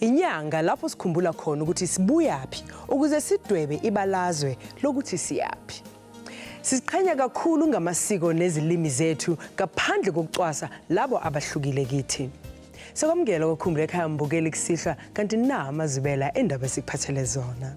Inyanga lapho sikhumbula khona ukuthi sibuyaphi ukuze sidwebe ibalazwe lokuthi siyaphi. Siziqhenya kakhulu ngamasiko nezilimi zethu ngaphandle kokucwasa labo abahlukile kithi. Sekwamukela kokhumbula ekhaya mbukeli kusihlwa kanti na amazibela endaba sikuphathele zona.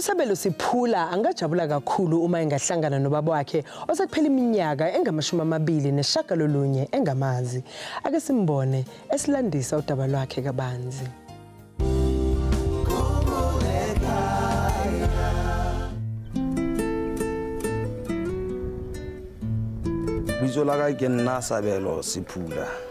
USabelo Siphula angajabula kakhulu uma engahlangana nobaba wakhe osekuphela iminyaka engamashumi amabili neshagalolunye engamazi. Ake simbone esilandisa udaba lwakhe kabanzi. Bizo la ka ke nna Sabelo Siphula.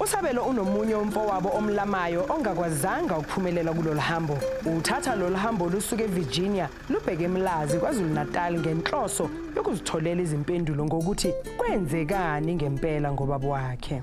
USabelo unomunye umfowabo omlamayo ongakwazanga ukuphumelela kulolu hambo. Uthatha lolu hambo lusuka eVirginia lubheke eMlazi KwaZulu-Natal ngenhloso yokuzitholela izimpendulo ngokuthi kwenzekani ngempela ngobaba wakhe.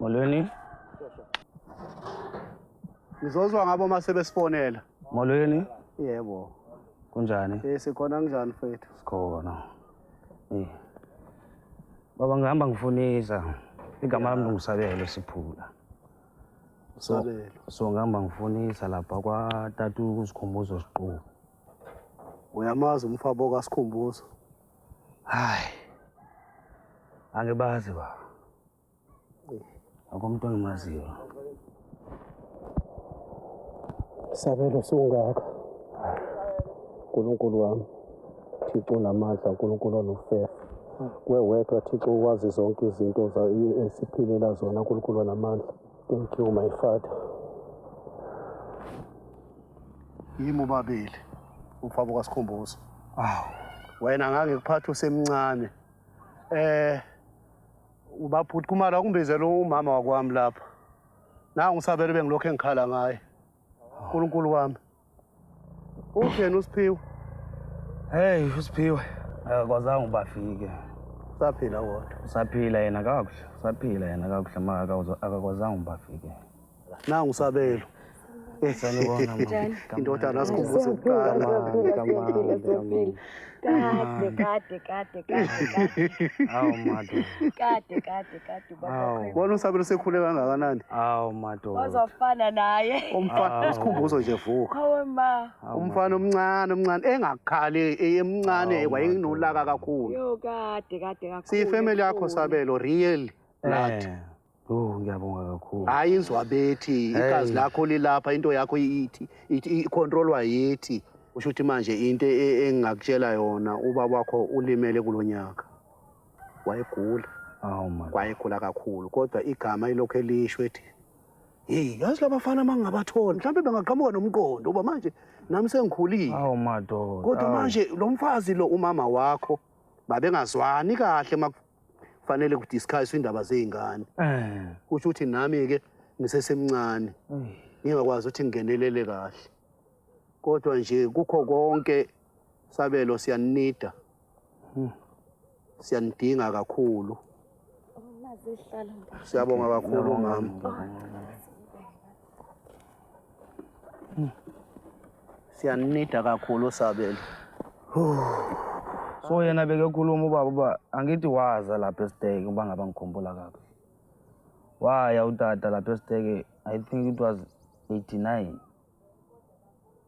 Molweni. Ngizozwa ngabo uma sebesifonela. Molweni. Yebo. Kunjani? Eh sikhona kunjani mfethu? Sikhona. Eh. Baba ngihamba ngifunisa. Igama lami ngisabelo siphula. Sabelo. So ngihamba ngifunisa lapha kwa tatu kusikhumbuzo siqhubu. Uyamazi umfabo kaSikhumbuzo? Hayi. Angibazi ba. Akomuntu engimaziyo. Sabelo sungaka. Nkulunkulu wami. Thixo namandla uNkulunkulu onofefe kuwe wedwa Thixo ukwazi zonke izinto esiphilela zona uNkulunkulu namandla thank you my father yimi ubabili umfabo kaSikhumbuzo. Awu. Wena ngange kuphatha usemncane. Eh ubabhuti kumala kumbizela umama wakwami lapha. Nangu usabele bengilokho engikhala ngaye. uNkulunkulu wami. Utheni uSiphiwe? Hey uSiphiwe. Akakwazanga ubafike. Usaphila wona. Usaphila yena kakuhle. Usaphila yena kakuhle maka akakwazanga ubafike. Nangu usabelo. Sanibona mama. Indodana asikhumbuza ukuqala. Kade kade kade kade. Hawu mado. Kade kade kade baba. Wona usabelo sekhule kangakanani? Hawu mado. Wazofana naye. Umfana usikhumbuzo nje vuka. Hawu ma. Umfana omncane omncane engakhali eyemncane wayenolaka kakhulu. Yo kade kade kakhulu. Siyifamily yakho sabelo real. Lathi. Eh. Oh ngiyabonga kakhulu. Hayi inzwa bethi igazi lakho lilapha into yakho ithi icontrolwa yithi. Usho ukuthi manje into e- engingakutshela yona ubaba wakho ulimele kulonyaka. Wayegula, Awu man. wayegula kakhulu kodwa igama ilokho elisho ethi Hey, yazi labafana mangingabathola mhlawumbe bengaqhamuka nomqondo uba manje nami sengikhulile. Awu madoda. Kodwa awu. manje lo mfazi lo umama wakho babengazwani kahle maku- fanele kudiscusswe indaba zey'ngane eh. kusho ukuthi nami-ke ngisesemncane ngingakwazi ukuthi ngingenelele kahle kodwa nje kukho konke sabelo siyanida hmm. siyanidinga kakhulu siyabonga kakhulu mama siyanida kakhulu sabelo so yena bekekhuluma ubaba uba angithi waza lapha esiteke uba ngaba ngikhumbula kabi waya utata lapha esiteke i think it was 89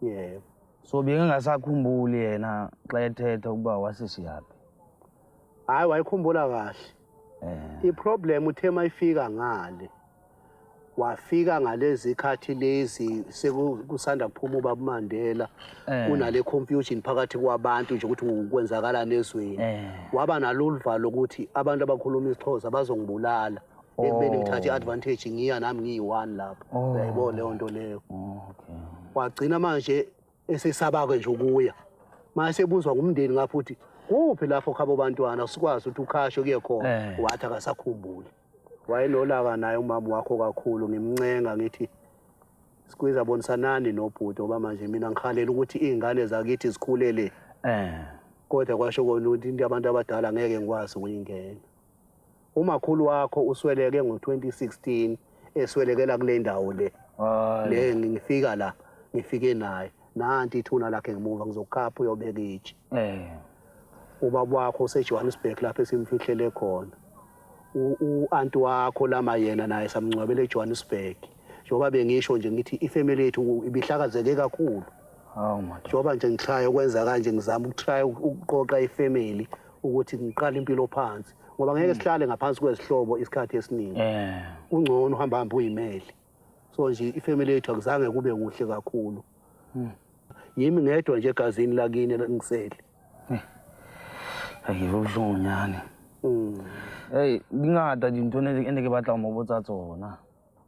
yebo so bengingasakhumbuli yena xa ethetha ukuba wasisiyaphi hhayi wayikhumbula kahle um iproblem uthe uma ifika ngale wafika ngalezi khathi lezi sekusanda kuphuma ubaba umandela eh. kunale confusion phakathi kwabantu nje ukuthi kwenzakalani ezweni eh. waba nalolu valo lokuthi abantu abakhuluma isixhosa bazongibulala ekubeni ngithathe i-advantage ngiya nami ngiyi-one lapho oh. uyayibona oh. leyo nto leyo wagcina manje esesaba-ke nje ukuya ma esebuzwa ngumndeni ngapho ukuthi kuphi lapho khabo bantwana sikwazi ukuthi ukhashe kuye khona eh. wathi akasakhumbuli wayenolaka naye umama wakho kakhulu ngimncenga ngithi sikwiza bonisanani nobhuti ngoba manje mina ngikhalela ukuthi iy'ngane zakithi zikhulele um eh. kodwa kwasho kona ukuthi into abantu abadala ngeke ngikwazi ukuyingena umakhulu wakho usweleke ngo-2016 eswelekela kule ndawo le le ngifika la ngifike naye nanti ithuna lakhe ngemuva ngizokukhapha uyobeka itshe eh. ubaba wakho usejohannesburg lapho esimfihlele khona u-anti wakho lama yena naye samngcwabela ejohannesburg njengoba bengisho nje ngithi ifamily yethu ibihlakazeke kakhulu njengoba nje ngitraya ukwenza kanje ngizama ukutraya ukuqoqa ifamily ukuthi ngiqale impilo phansi ngoba ngeke hmm. sihlale ngaphansi kwezihlobo isikhathi esiningi eh. kungcono uhamba hamba uyimeli so nje ifamily yethu akuzange kube kuhle kakhulu hmm. yimi ngedwa nje egazini lakini ngisele hmm. ayiwe ubuhlungu nyane hey dingata dintho ne ke batla mo botsa tsona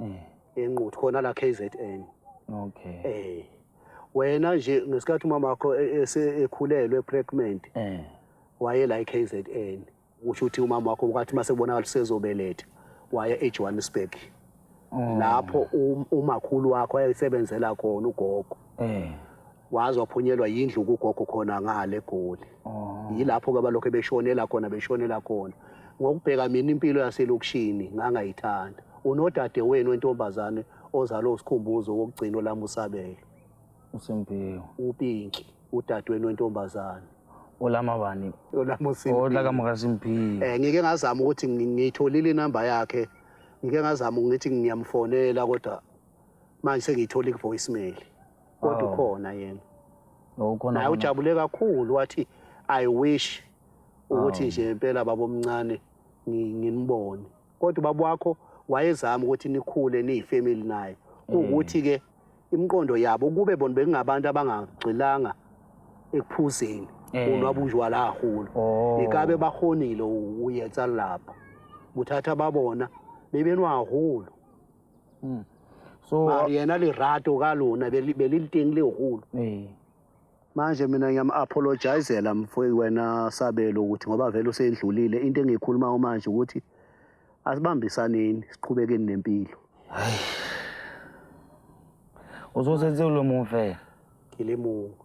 eh. enquthu khona la KZN okay eh wena nje ngesikhathi umama wakho e, e, esekhulelwe pregnant eh waye la KZN usho ukuthi umama wakho kwathi mase kubonakala sezobeletha waya eJohannesburg oh. lapho um, umakhulu wakho ayesebenzela khona ugogo eh waze waphunyelwa yindlu kugogo khona ngale goli oh. yilapho-ke abalokhu beshonela khona beshonela khona ngokubheka mina impilo yaselokishini ngangayithanda unodade wenu wentombazane ozalwe usikhumbuzo wokugcina olami usabelo usempiwo upinki udade wenu wentombazane olama bani olama usimpiwo olakamukasimpiwo um ngike ngazama ukuthi ngiyitholile inamba yakhe ngike ngazama ukuthi ngiyamfonela kodwa manje sengiyithole ku-voicemail kodwa Oh. ukhona yena Oh, ukhona naye khona. ujabule kakhulu wathi i wish ukuthi Oh. nje impela babomncane ngi- nginibone kodwa ubaba wakho wayezama ukuthi nikhule niyifamily naye kuwukuthi-ke imiqondo yabo kube bona bekungabantu abangagxilanga ekuphuzeni Eh. unwabunjwala hahulu Oh. ikabe bahonile uyetsa lapha kuthatha babona bebenwahulu mm. so mara yena lirato ka lona beliliteng le holo eh. manje mina ngiyam-apologizela mfowei wena sabelo ukuthi ngoba vele usendlulile into engiyikhulumayo manje ukuthi asibambisaneni siqhubekeni nempilo hayi uzosenzela lo mumfela ngile mungu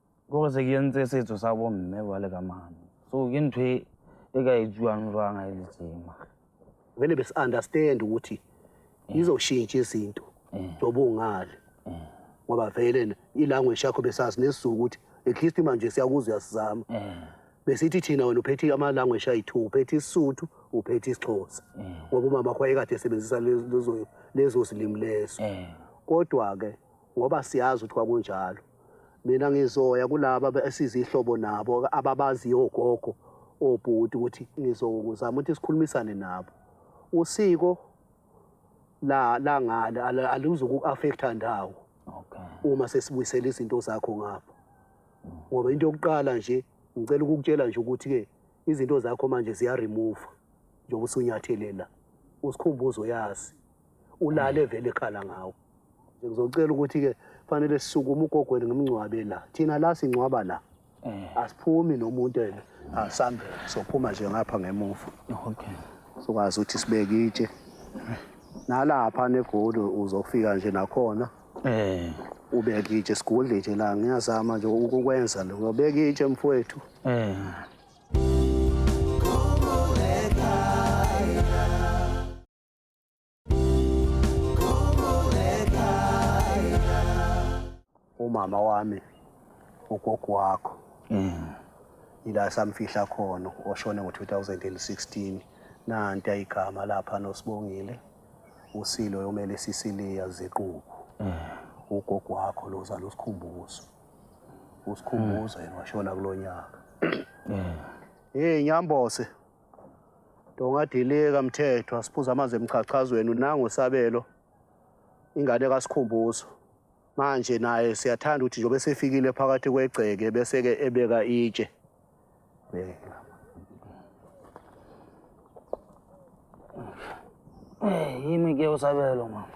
ke go se ke ntse setso sa bomme ba le ka mane so ke ntho e, e ka e jwang jwang a e le tsema vele besi-understand ukuthi eh. izoshintsha izinto eh. njengoba ungale eh. ngoba vele ilanguage yakho besazi nesizulu ukuthi at least manje siyakuza uyasizama besithi thina wena uphethe amalanguage ayi-two uphethe isisuthu uphethe isixhosa ngoba umama wakho wayekade esebenzisa lezo zilimi lezo kodwa-ke ngoba siyazi ukuthi kwakunjalo mina ngizoya kulaba esize ihlobo nabo ababaziyo ogogo obhuti ukuthi ngizokuzama ukuthi sikhulumisane nabo usiko la la ngale alizuku affecta ndawo okay uma sesibuyisela izinto zakho ngapha ngoba into yokuqala nje ngicela ukukutshela nje ukuthi ke izinto zakho manje ziya remove njengoba usunyatheleni la usikhumbuzo yazi ulale vele ekhala ngawo ngizocela ukuthi-ke fanele sisukume ugogweni ngimngcwabe la thina la singcwaba la eh. asiphumi nomuntu ena asambele sophuma nje ngapha ngemuva okay sokwazi ukuthi sibeke itshe nalapha negoli uzofika nje nakhona eh ubeke itshe sigudle itshe la ngiyazama nje ukukwenza lokho ubeka itshe mfowethu eh umama wami ugogo wakho mm. ila samfihla khona oshone ngo-2016 nanti ayigama lapha nosibongile usilo yomele sisiliya ziqubu mm. ugogo wakho lozala usikhumbuzo usikhumbuzo yena washona kulo nyaka mm. hey nyambose Dongadilika mthethwa siphuza amanzi emchachazweni unango sabelo ingane kaSikhumbuzo. Manje naye siyathanda ukuthi njobe sefikile phakathi kwegceke bese ke ebeka itshe. Beka. Eh yimi ke usabelo mama.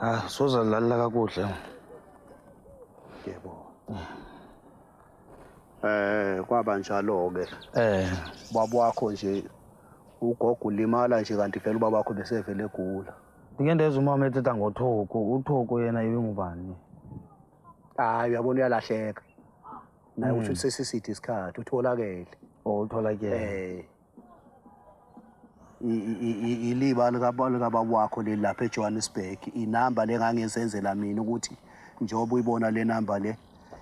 Ah soza lalela kakuhle. Yebo. Yeah. Eh kwaba njalo ke. Eh baba wakho nje ugogo ulimala nje kanti vele ubaba wakho besevele egula. Ndike ndezwe umama ethetha ngothoko, uthoko yena ibingubani? Hayi uyabona uyalahleka. Naye usho hmm. ukuthi sesiside isikhathi utholakele. Oh utholakele. Eh iliba likababa wakho leli lapha ejohannesburg inamba le ngangizenzela mina ukuthi njengoba uyibona le namba le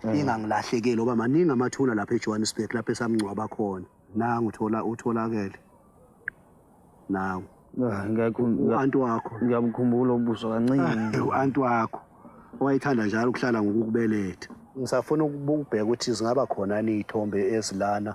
mm. ingangilahlekeli oba maningi amathuna lapha ejohannesburg lapho esamngcwaba khona nangu uthola utholakele nawe ah, u-anti wakho ngiyamkhumbula ubuso kancane ah, u-anti wakho owayethanda njalo ukuhlala ngokukubeletha ngisafuna ukubheka ukuthi zingaba khona niy'thombe ezilana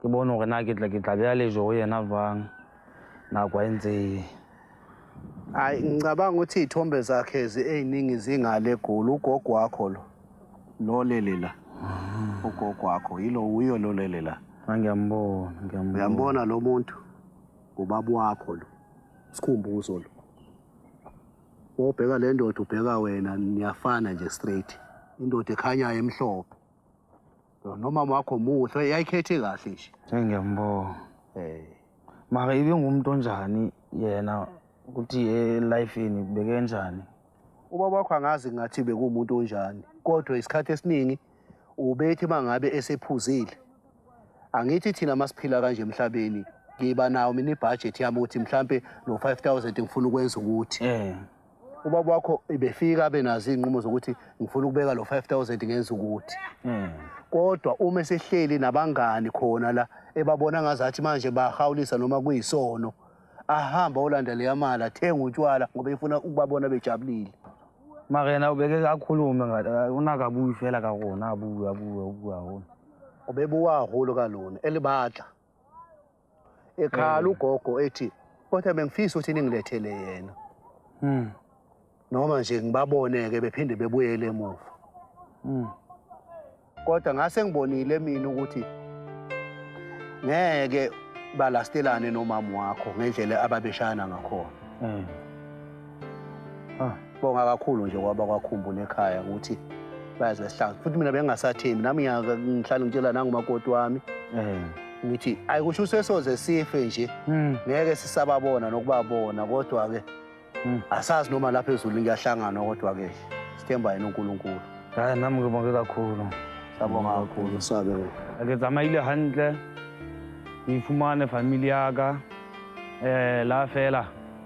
ke bone gore na ke tla ke tla beya lejo go yena jwang nako e ntse e hayi ngicabanga ukuthi iy'thombe zakhe eziningi zingale egoli ugogo wakho lo lolele la ah. ugogo wakho yilo wuyo lolele la ah, ngiyambona ngiyambona uyambona lo muntu ngubaba wakho lo sikhumbuzo lo wobheka le ndoda ubheka wena niyafana nje straight indoda ekhanyayo emhlophe nomama wakho muhle yayikhethe kahle nje ngiyambonga eh mara ibe ngumuntu onjani yena ukuthi e-life yeni beke njani ubaba wakho angazi ngathi bekuwumuntu onjani kodwa isikhathi esiningi ubethi uma ngabe esephuzile angithi thina masiphila kanje emhlabeni ngiba nawo mina ibhajethi yami ukuthi mhlampe no-five thousand ngifuna ukwenza ukuthi um ubaba wakho ibefika abe nazo iy'nqumo zokuthi ngifuna ukubeka lo 5000 ngenza ukuthi hmm. kodwa uma esehleli nabangani khona la ebabona ngazathi manje bahawulisa noma kuyisono ahamba olanda leya mali athenga utshwala ngoba efuna ukubabona bejabulile mara yena ubeke akhulume unakabuyi fela ka rona abuye abuye abuye hona ubebuwa holo ka lona elibatla ekhala ugogo ethi kodwa bengifisa ukuthi ningilethele yena mm. noma nje ngibabone-ke bephinde bebuyele emuva mm. kodwa ngase ngibonile mina ukuthi ngeke balastelane nomama wakho ngendlela ababeshayana ngakhona mm. Ah, bonga kakhulu nje kwaba kwakhumbula ekhaya ukuthi bayazi wesihlangu futhi mina bengingasathembi nami ngiya- ngihlale ngitshela nangumakoti wami Eh. ngithi ayi kusho usesoze sife nje Mm. ngeke sisababona nokubabona kodwa-ke Mm. asazi noma lapha ezulu ngiyahlangana kodwa-ke sithemba yena unkulunkulu Hayi nami ngibonge kakhulu. sabonga kakhulu sabe Ke tsamaile hantle. Ke ifumane family ya ka. Eh la fela.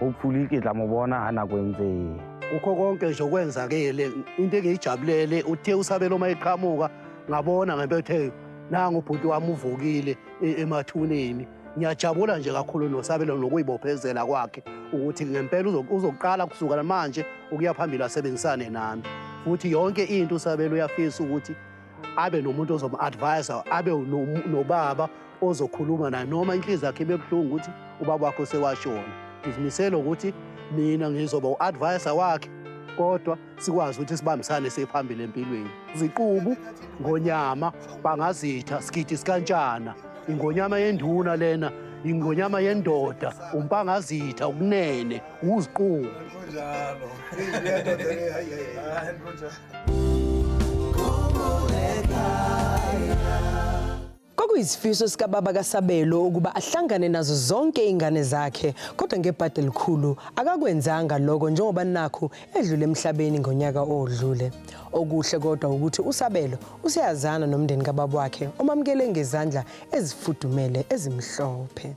hopefully ke tla mo bona ha nako e ntse e ya kukho konke nje okwenzakele into engiyijabulele uthe usabela uma eqhamuka ngabona ngempetheyo nangu bhuti wami uvukile e, emathuneni ngiyajabula nje kakhulu nosabelo nokuyibophezela kwakhe ukuthi ngempela uzoqala kusukela manje ukuya phambili asebenzisane nami futhi yonke into usabelo uyafisa ukuthi abe nomuntu ozomu-advisa abe nobaba ozokhuluma naye noma inhliziyo yakhe ibe buhlungu ukuthi ubaba wakho sewashona ngizimisele ukuthi mina ngizoba u-advisa wakhe kodwa sikwazi ukuthi sibambisane sephambili empilweni ziqubu ngonyama bangazitha sigidi sikantshana ingonyama yenduna lena ingonyama yendoda umpangazitha ukunene uziqubu Kwakuyisifiso sikababa kaSabelo ukuba ahlangane nazo zonke ingane zakhe kodwa ngebhadi elikhulu akakwenzanga lokho njengoba nakhu edlule emhlabeni ngonyaka odlule. Okuhle kodwa ukuthi uSabelo useyazana nomndeni kababa wakhe omamukele ngezandla ezifudumele ezimhlophe.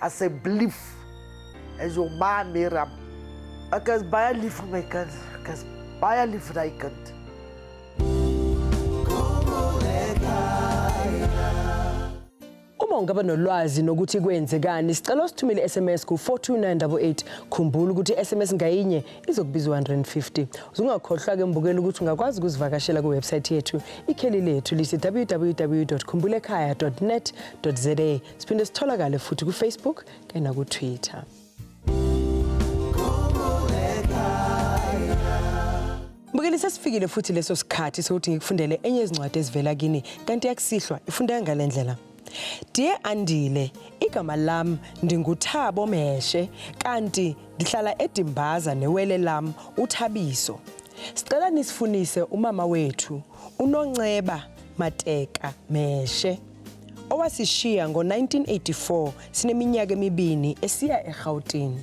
I say believe as your ma Miriam. Ek is baie lief vir my kind. Ek is baie lief vir daai kind. Uma ungaba nolwazi nokuthi kwenzekani, sicela usithumele SMS ku 42988. Khumbula ukuthi SMS ngayinye izokubiza 150. Uzungakhohlwa ke mbukela ukuthi ungakwazi ukuzivakashela ku website yethu. Ikheli lethu lise www.khumbulekhaya.net.za. Siphinde sitholakale futhi ku-Facebook kanye naku-Twitter. Mbukeli sesifikile futhi leso sikhathi sokuthi ngikufundele enye yezincwadi ezivela kini kanti yakusihlwa ifundeka ngale ndlela. Dear Andile, igama lam ndinguThabo Mheshe kanti ndihlala eDimbaza newele lam uThabiso. Sicela nisifunise umama wethu uNonceba Mateka Mheshe. owasishiya ngo-1984 sineminyaka emibini esiya eGauteng.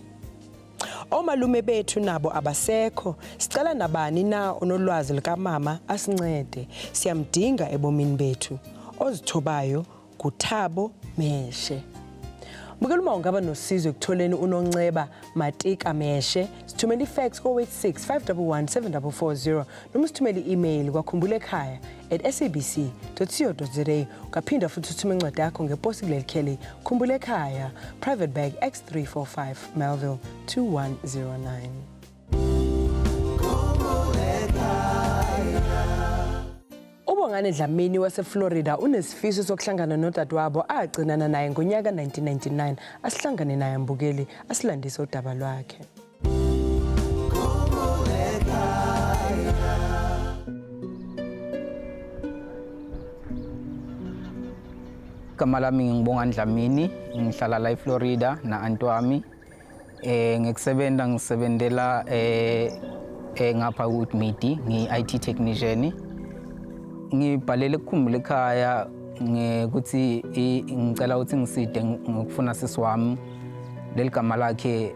Omalume bethu nabo abasekho, sicela nabani na onolwazi likamama asincede, siyamdinga ebomini bethu. Ozithobayo nguThabo Meshe. Bukela uma ungaba nosizo ekutholeni uNonceba Matika Meshe, sithumela ifax ko-86 511 7440 noma usithumele i-email kwakhumbula ekhaya at sabc co za ungaphinda futhi uthume incwadi yakho ngeposi kuleli kheli khumbula ekhaya private bag x345 melville 2109 ubongane dlamini waseflorida unesifiso sokuhlangana nodadewabo agcinana naye ngonyaka 1999 asihlangane naye mbukeli asilandise udaba lwakhe Igama lami ngingibonga Ndlamini, ngihlala la eFlorida na anti wami. Eh ngikusebenza ngisebenzela eh eh ngapha ku Midi, ngi IT technician. Ngibhalele kukhumbula ekhaya ngikuthi ngicela ukuthi ngiside ngokufuna sisi wami leligama lakhe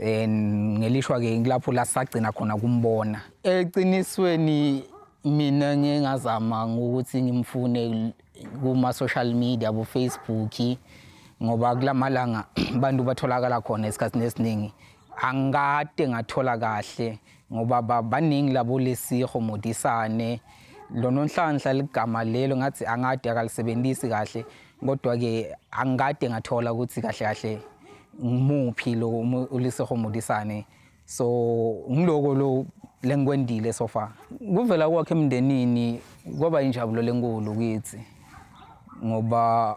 Eh, ngelishwa ke ngilapho la sagcina khona kumbona eqinisweni mina ngingazama ngokuthi ngimfune kuma social media bo Facebook ngoba kulamalanga abantu batholakala khona esikhathini esiningi angikade ngathola kahle ngoba baningi labo lesiho modisane lononhlanhla ligama lelo ngathi angade akalisebenzisi kahle kodwa ke angikade ngathola ukuthi kahle kahle ngimuphi lo ulisiho modisane so ngiloko lo lengikwendile so far kuvela kwakhe emndenini kwaba injabulo lenkulu kithi ngoba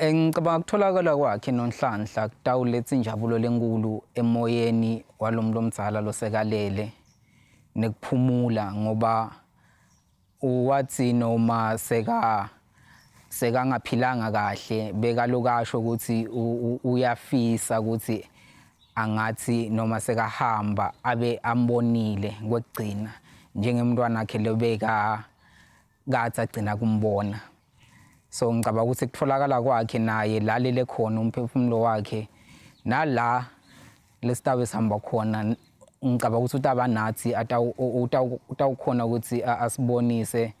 Eh, ngicabanga kutholakala kwakhe nonhlanhla kutawuletha injabulo lenkulu emoyeni walo muntu omdala losekalele nekuphumula ngoba wathi noma seka sekangaphilanga kahle bekalokasho ukuthi uyafisa ukuthi angathi noma sekahamba abe ambonile kwekugcina njengemntwana wakhe lobeka kathi agcina kumbona so ngicabanga ukuthi kutholakala kwakhe naye lalele khona umphefumulo wakhe nala lesitabe sihamba khona ngicabanga ukuthi utaba nathi utawukhona ukuthi asibonise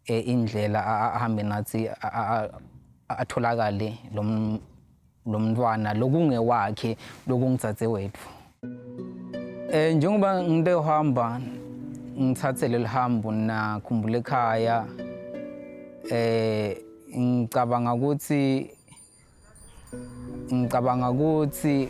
eh, indlela ahambe nathi atholakale lo lo mntwana lokungewakhe lokungitsatse wethu eh njengoba nginte uhamba ngithathe leli hambo nakhumbula ekhaya eh ngicabanga ukuthi ngicabanga ukuthi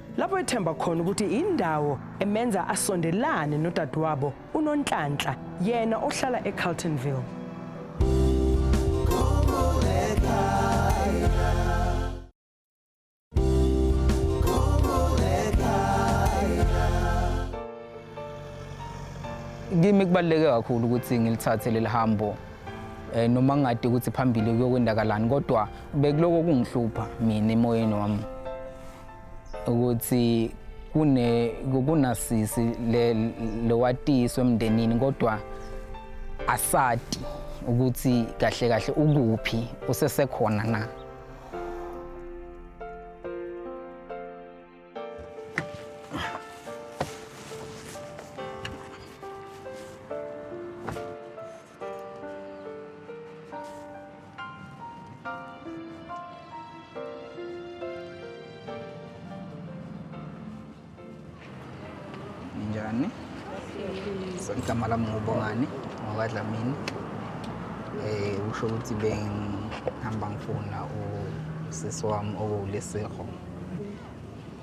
lapho ethemba khona ukuthi indawo emenza asondelane nodadewabo uNonhlanhla yena ohlala eCarltonville kimi kubaluleke kakhulu ukuthi ngilithathe leli hambo eh noma ngade ukuthi phambili kuyokwendakalani kodwa bekuloko kungihlupha mina emoyeni wami ukuthi kune kunasisi le lowatiswe emndenini kodwa asati ukuthi kahle kahle ukuphi usesekhona na Njani? So igama lami ngubongani ngokwadlamini eh usho ukuthi bengihamba ngifuna usisi wami okuwulesego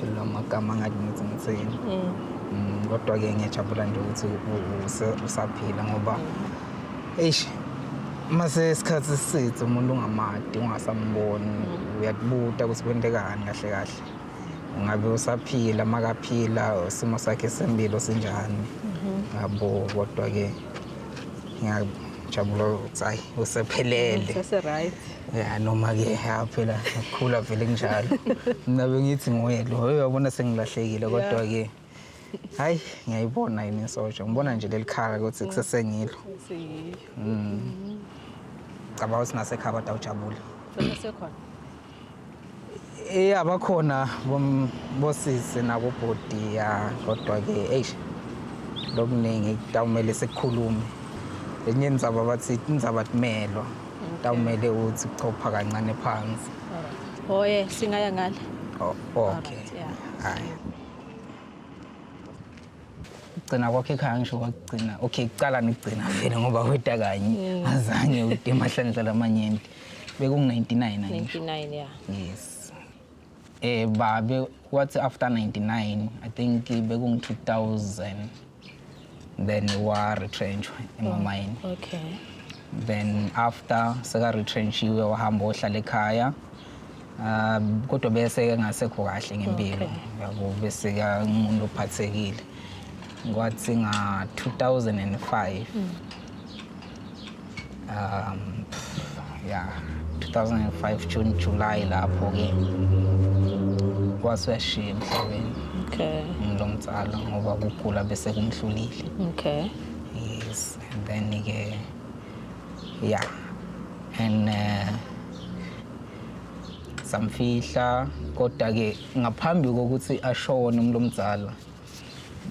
Phela amagama angathi ngithi ngithini. Mm. Mm, Kodwa ke ngiyajabula nje ukuthi u- use- usaphila ngoba eish mase isikhathi sisithe umuntu ungamadi ungasamboni uyakubuta ukuthi kwentekani kahle kahle. Ngabe usaphila makaphila isimo sakhe sempilo sinjani. Yabo kodwa ke ngiyajabula ukuthi hayi usephelele seseright ya noma ke ya phela ngikhula vele kunjalo mina bengithi nguye lo hey uyabona sengilahlekile kodwa ke hayi ngiyayibona yini insoja ngibona nje lelikhala ukuthi mm. kusesengilo mm. cabanga ukuthi nasekhaya kodwa ujabule sekhona Eh abakhona bosisi nakubhudi ya kodwa ke eish lokuningi kutawumele sekukhulume enye indzaba bathi indzaba kumelwa kutawumele uthi kuchopha kancane phansi oye singaya ngale Oh, okay Alright, yeah. hayi ukugcina kwakho ekhaya ngisho kwakugcina okay kuqala nikugcina vele ngoba weta kanye azange ude emahlandlela amanyenti bekungu-99 angisho 99 ya yes eh babe wathi after 99 i think bekungu-2000 then wa-retrenchwa emamayini okay then after seka-retrenchiwe wahamba ohlala ekhaya um kodwa bese engasekho kahle ngempilo yabo bese kangumuntu ophathekile kwathi nga-2005 um ya 2005 june july lapho-ke wasuyashiya emhlabeni okay lo mzala ngoba kugula bese kumhlulile okay yes and then-ke ya and uh, samfihla kodwa-ke ngaphambi kokuthi ashone umlomzala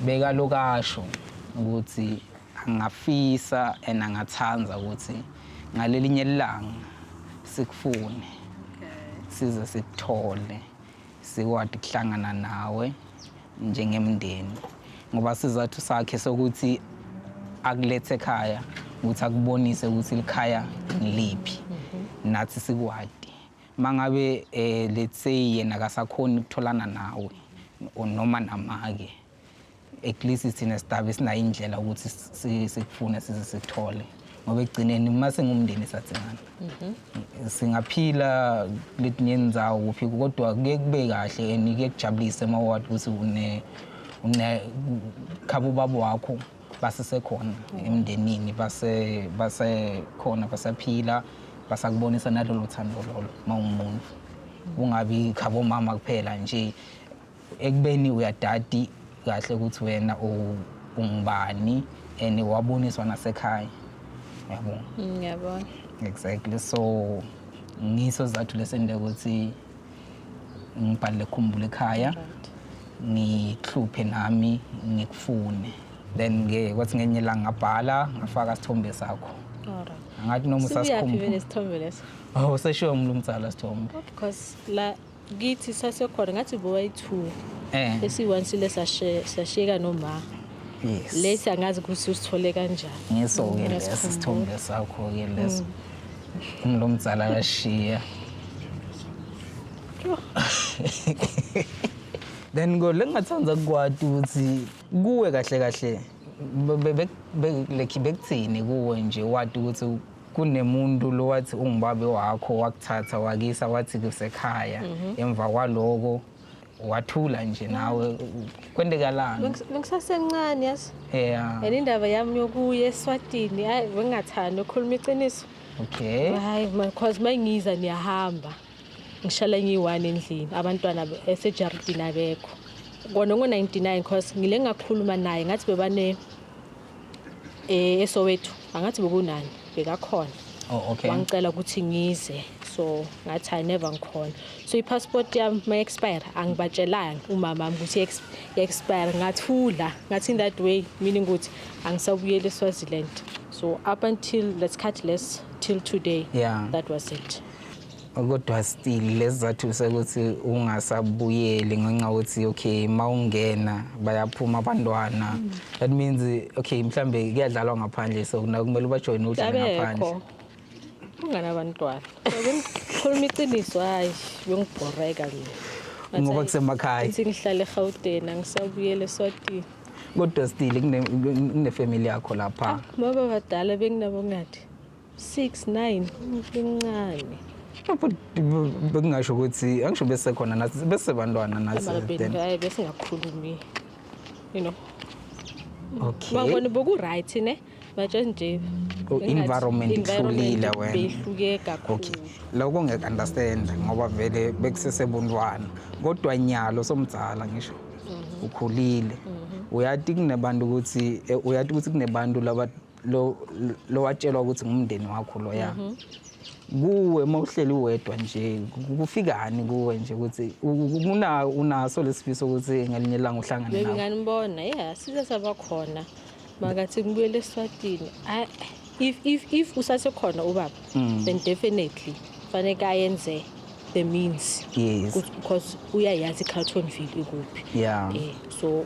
bekalokasho ukuthi angafisa and angathanda ukuthi ngalelinye ilanga sikufune size sikuthole sikwadi kuhlangana nawe njengemndeni ngoba sizathu sakhe sokuthi akulethe ekhaya ukuthi akubonise ukuthi likhaya ngiliphi mhm. nathi sikwadi mangabe eh let's say yena akasakhoni ukutholana nawe noma namake at least sithina sidabe sinayo indlela ukuthi sikufune size sithole ngoba ekugcineni uma singumndeni sathingana mhm. singaphila kuletinye ndzawo kuphi kodwa kuye kube kahle and kuye kujabulise uma wathi ukuthi une une khabo babo wakho basesekhona emndenini base basekhona basaphila basakubonisa nalolo thando lolo uma ungumuntu ungabi khabo mama kuphela nje ekubeni uyadadi kahle ukuthi wena ungubani and waboniswa nasekhaya yabona mm, ngiyabona exactly so ngiso zathu lesende ukuthi ngibhalele khumbule ekhaya ngihluphe nami ngikufune then ke kwathi ngenye la ngabhala ngafaka sithombe sakho ngathi noma usasikhumbula sithombe leso oh seshiwe umlumtsala sithombe because la kithi sasekhona ngathi bowayi-two Eh. esiyi-one sile sashe- sashiyeka noma Yes. lesi angazi ukuthi usithole kanjani Ngiso-ke Mm, lesi ngiyasikhumbula. sithombe sakho-ke leso. Umlo mdzala kashiya. Then kodwa engathanda kukwati ukuthi kuwe kahle kahle be- be- be- be- like bekuthini kuwe nje wati ukuthi kunemuntu lo wathi ungubabe wakho wakuthatha wakisa wathi kusekhaya mhm. emva kwaloko wathula nje nawe kwentekalani bengisasencane yazi yeah and indaba yami yokuya eswatini hayi bengingathanda ukukhuluma iqiniso okay hayi because mangiza niyahamba ngishala ngiyi-one endlini abantwana esejaridini abekho kona ngo-99 because ngile ngakhuluma naye ngathi bebane eh esowethu angathi bokunani bekakhona oh okay wangicela ukuthi ngize so ngathi i never ngikhona so i-passport yami ma expire angibatshelanga umama wami ukuthi i expire ngathula ngathi in that way meaning ukuthi angisabuyele eSwaziland so up until let's cut less till today yeah that was it kodwa still lesizathu sekuthi ungasabuyeli ngenxa ukuthi okay uma ungena bayaphuma abantwana that means okay mhlambe kuyadlalwa ngaphandle so nakumele ubajoyine udlale ngaphandle ungana abantwana khuluma iqiniso hayi bengibhoreka nje ngoba kusemakhaya ngithi ngihlale eGauteng angisabuyele eSwatini kodwa still kunefamily yakho lapha ah, baba badala benginabo ngathi 6 9 umncane bekungasho ukuthi angisho bese khona nathi bese bantwana nathi hayi bese ngakhulumi you know okay babona boku right ne batshe nje oh, environment ihlulile wena behluke kakhulu okay lokho ngeke understand ngoba vele bekusesebuntwana kodwa nyalo somdzala ngisho mhm. ukhulile mhm. uyathi kunebantu ukuthi eh, uyathi ukuthi kunebantu laba lo lo watshelwa ukuthi ngumndeni wakho loya mhm. kuwe uma uhleli wedwa nje kufikani kuwe nje ukuthi una unaso lesifiso ukuthi ngelinye ilanga uhlangane nawe nganibona yeah size sabakhona makathi ngibuyele eSwatini if if if usasekhona ubaba mm. then definitely fanele ayenze the means yes because uyayazi iCarltonville ikuphi yeah eh, so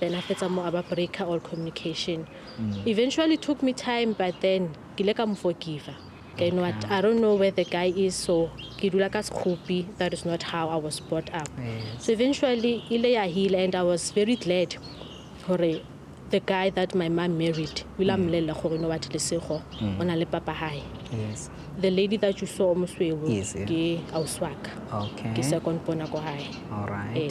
then a fetsa mo a ba breaker all communication mm. eventually took me time but then ke ile ka mo forgiver then what i don't know where the guy is so ke dula ka sekgopi that is not how i was brought up yes. so eventually ile ya heal and i was very glad gore the guy that my mom married o ile a mm. mmolelela gore no what lesego mm. o na le papa gae the lady that you saw o mosweo ke auswaka ke second bona ko gae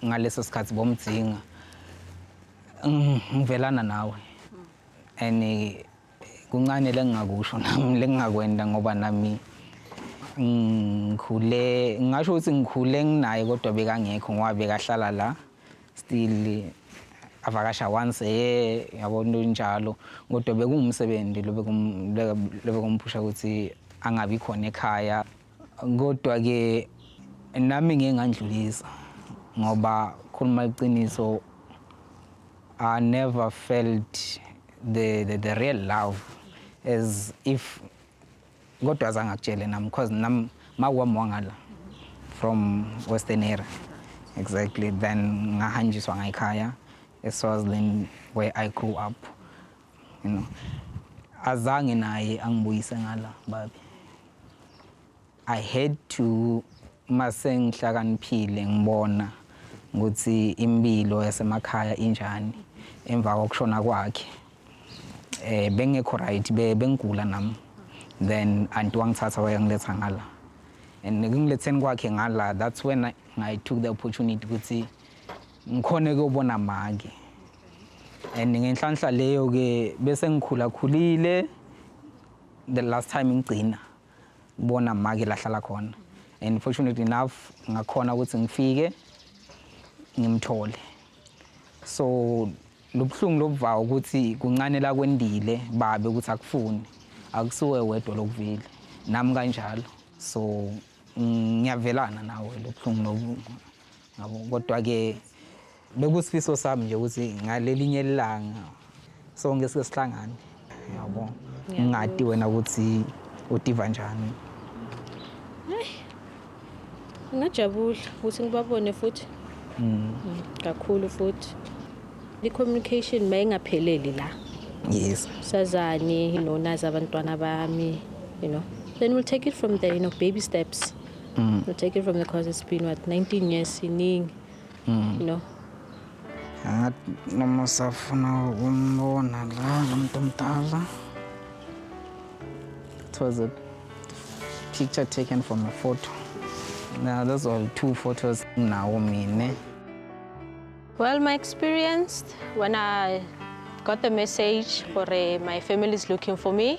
ngaleso sikhathi bomdzinga ngivelana nawe and kuncane lengingakusho nami lengingakwenda ngoba nami ngikhule ngingasho ukuthi ngikhule nginaye kodwa bekangekho ngoba bekahlala la still avakasha once a year yabo into njalo kodwa bekungumsebenzi lo bekumphusha ukuthi angabi khona ekhaya Kodwa-ke nami ngeke ngandlulisa ngoba khuluma iqiniso I never felt the, the, the real love as if kodwa azange akutshele nami because nami makwami wangala from western area exactly then ngahanjiswa ngayikhaya eswazland where i grew up you know azange naye angibuyise ngala babi i had to mase ngihlakaniphile ngibona ukuthi impilo yasemakhaya injani emva kokushona kwakhe eh bengekho right bengigula nami then anti wangithatha wayangiletha ngala and ngiletheni kwakhe ngala that's when I, I took the opportunity ukuthi Ngikhone kuyobona maki. And ngenhlanhla leyo ke bese ngikhula khulile the last time ngigcina ngibona maki lahlala khona. And fortunately enough ngakhona ukuthi ngifike ngimthole. So lobuhlungu lobuvayo ukuthi kuncane la kwendile babe ukuthi akufuni akusuwe wedwa lokuvile nami kanjalo so ngiyavelana nawe lobuhlungu lobu Kodwa-ke bekusifiso sami nje ukuthi ngalelinye ilanga sonke sike sihlangane yabo ngingadi wena ukuthi udiva njani ngingajabula ukuthi ngibabone futhi mm. Mm, kakhulu futhi i-communication mayingapheleli la yes sazani you know nazi abantwana bami you know then we'll take it from there you know baby steps mm. to take it from the cause it's been what 19 years siningi mm. you know ngathi noma usafuna ukumbona la lomuntu omdala it was a picture taken from a photo now those are two photos nawo mina well my experience when i got the message for uh, my family is looking for me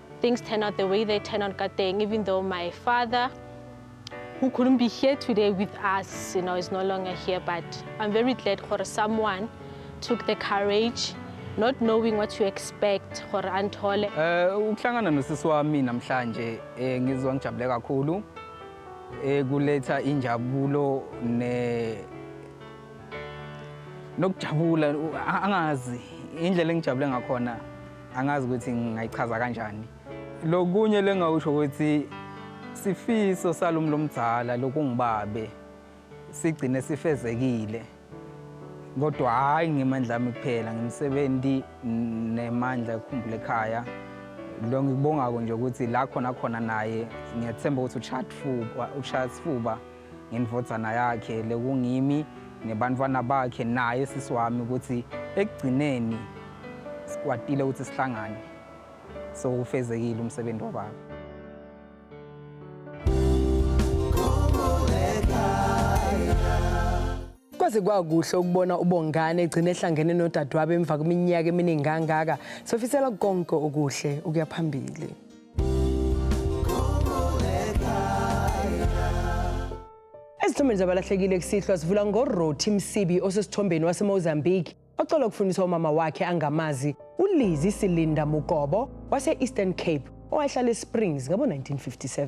Things turn out the way they turn out kateng, even though my father, who couldn't be here today with us, you know, is no longer here. But I'm very glad for someone took the courage not knowing what you expect gore anthole eh ukuhlangana nosisi wami namhlanje eh ngizwa ngijabule kakhulu eh kuletha injabulo ne nokujabula angazi indlela engijabule ngakhona angazi ukuthi ngingayichaza kanjani lokunye lengawusho ukuthi sifiso salumi lomdzala lokungibabe sigcine sifezekile kodwa hhayi ngemandla ami kuphela ngimsebenzi nemandla ekhumbula ekhaya lo ngikubongako nje ukuthi la khona khona naye ngiyathemba ukuthi ushaya sifuba ngendvodzana yakhe lekungimi nebantfwana bakhe naye sisi wami ukuthi ekugcineni sikwatile ukuthi sihlangane so ufezekile umsebenzi wababa kwaze kwakuhle ukubona ubongane egcina ehlangene nodadewabo emva kweminyaka eminingi kangaka sofisela konke okuhle ukuya phambili Ezithombeni zabalahlekile kusihlwa sivula ngoRothi Msibi osesithombeni waseMozambique ocelwa ukufundisa umama wakhe angamazi uLizi Silinda Mugobo wase-Eastern Cape owayehlala eSprings ngabo-1957.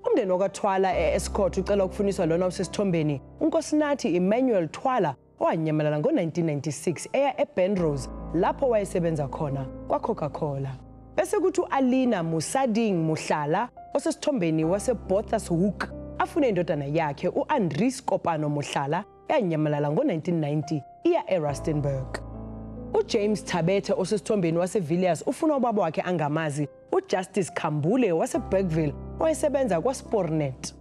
Umndeni wakaThwala e-Escort ucela ukufuniswa lona osesithombeni uNkosinathi Emmanuel Thwala owanyamalala ngo-1996 eya eBenrose lapho wayesebenza khona kwaCoca-Cola. Bese kuthi u-Alina Musading Muhlala osesithombeni waseBothas Hoek afune indodana yakhe u-Andries Kopano Muhlala eyanyamalala ngo-1990 iya eRustenburg. UJames Thabethe osesithombeni waseVilliers ufuna ubaba wakhe angamazi uJustice Khambule waseBergville owayesebenza kwaSpornet.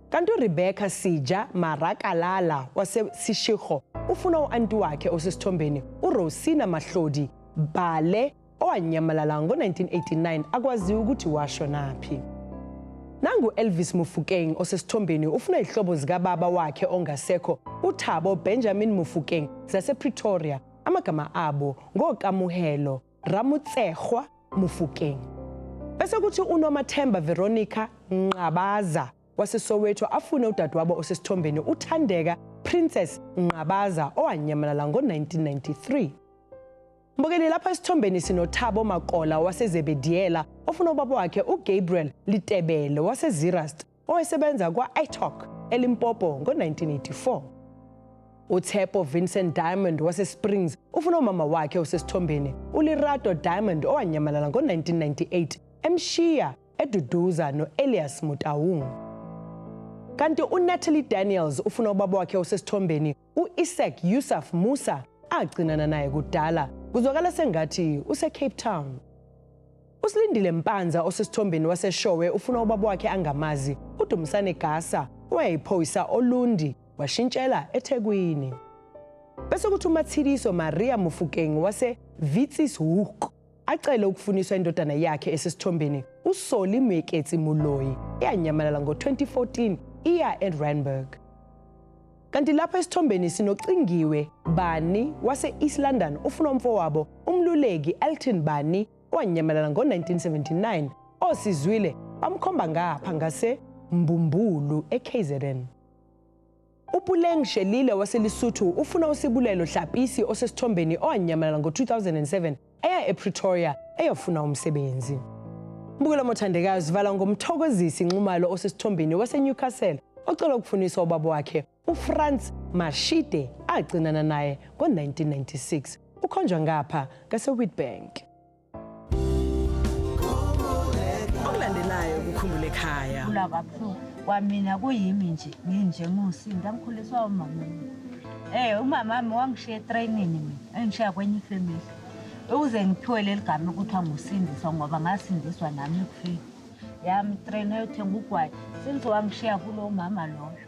Kanti uRebecca Sija Marakalala waseSishikho ufuna u-anti wakhe osesithombeni uRosina Mahlodi Bhale owanyamalala ngo-1989 akwaziwa ukuthi washonaphi. Nangu-Elvis Mufukeng osesithombeni ufuna izihlobo zikababa wakhe ongasekho uThabo Benjamin Mufukeng zasePretoria amagama abo ngokamuhelo Ramotsegwa Mofokeng. Bese kuthi uNomathemba Veronica Nqabaza waseSoweto afune udadewabo osesithombeni uThandeka Princess Nqabaza owanyamalala ngo-1993. Mbukeli lapha esithombeni sinoThabo Makola waseZebediyela ofuna ubaba wakhe uGabriel Litebele waseZirast owayesebenza kwa-italk elimpopo ngo-1984 uThepo Vincent Diamond waseSprings ufuna umama wakhe osesithombeni uLirato Diamond owanyamalala ngo-1998 emshiya eduduza no-Elias Mutaung. Kanti uNatalie Daniels ufuna ubaba wakhe osesithombeni u-Isaac Yusuf Musa agcinana naye kudala kuzwakala sengathi useCape Town. USilindile Mpanza osesithombeni waseShowe ufuna ubaba wakhe angamazi, uDumsane Gasa owayeyiphoyisa oLundi washintshela eThekwini. Bese kuthi uMatshidiso Maria Mofokeng wase-Vitsis Hoek acele ukufuniswa indodana yakhe esesithombeni usoli mweketsi muloyi eyanyamalala ngo-2014 iya eranburg kanti lapha esithombeni sinocingiwe bani wase-east london ufuna umfowabo umluleki elton bani owanyamalala ngo-1979 osizwile bamkhomba ngapha ngase mbumbulu ekzn UPuleng Shelile waseLesotho ufuna uSibulelo Hlapisi osesithombeni owanyamalala ngo-2007 eya ePretoria eyofuna umsebenzi. Mbukelo Mothandekayo zivala ngomthokozisi Nxumalo osesithombeni waseNewcastle ocela ukufuniswa ubaba wakhe uFrans Mashide agcinana naye ngo-1996. Ukhonjwa ngapha ngaseWitbank. okulandelayo kukhumbule ekhaya kula kabuhlungu kwamina kuyimi nje nginje ngiwusinda ngikhuliswa umama Eh umama wami wangishiya etrainini mina engishiya kwenye ifamily ukuze ngiphiwe leli gama ekuthiwa ngusindiswa ngoba ngasindiswa nami ekufeni yami itrain eyothenga ugwayi since wangishiya kulo mama loyo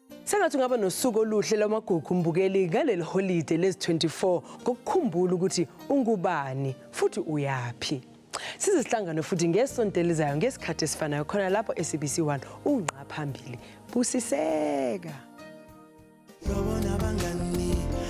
Sengathi ungaba nosuku oluhle lwamagugu mbukeli ngaleli holide lezi-24 ngokukhumbula ukuthi ungubani futhi uyaphi. Size sihlangane futhi ngesonto elizayo ngesikhathi esifanayo khona lapho eSABC 1 ungqa phambili. Busiseka.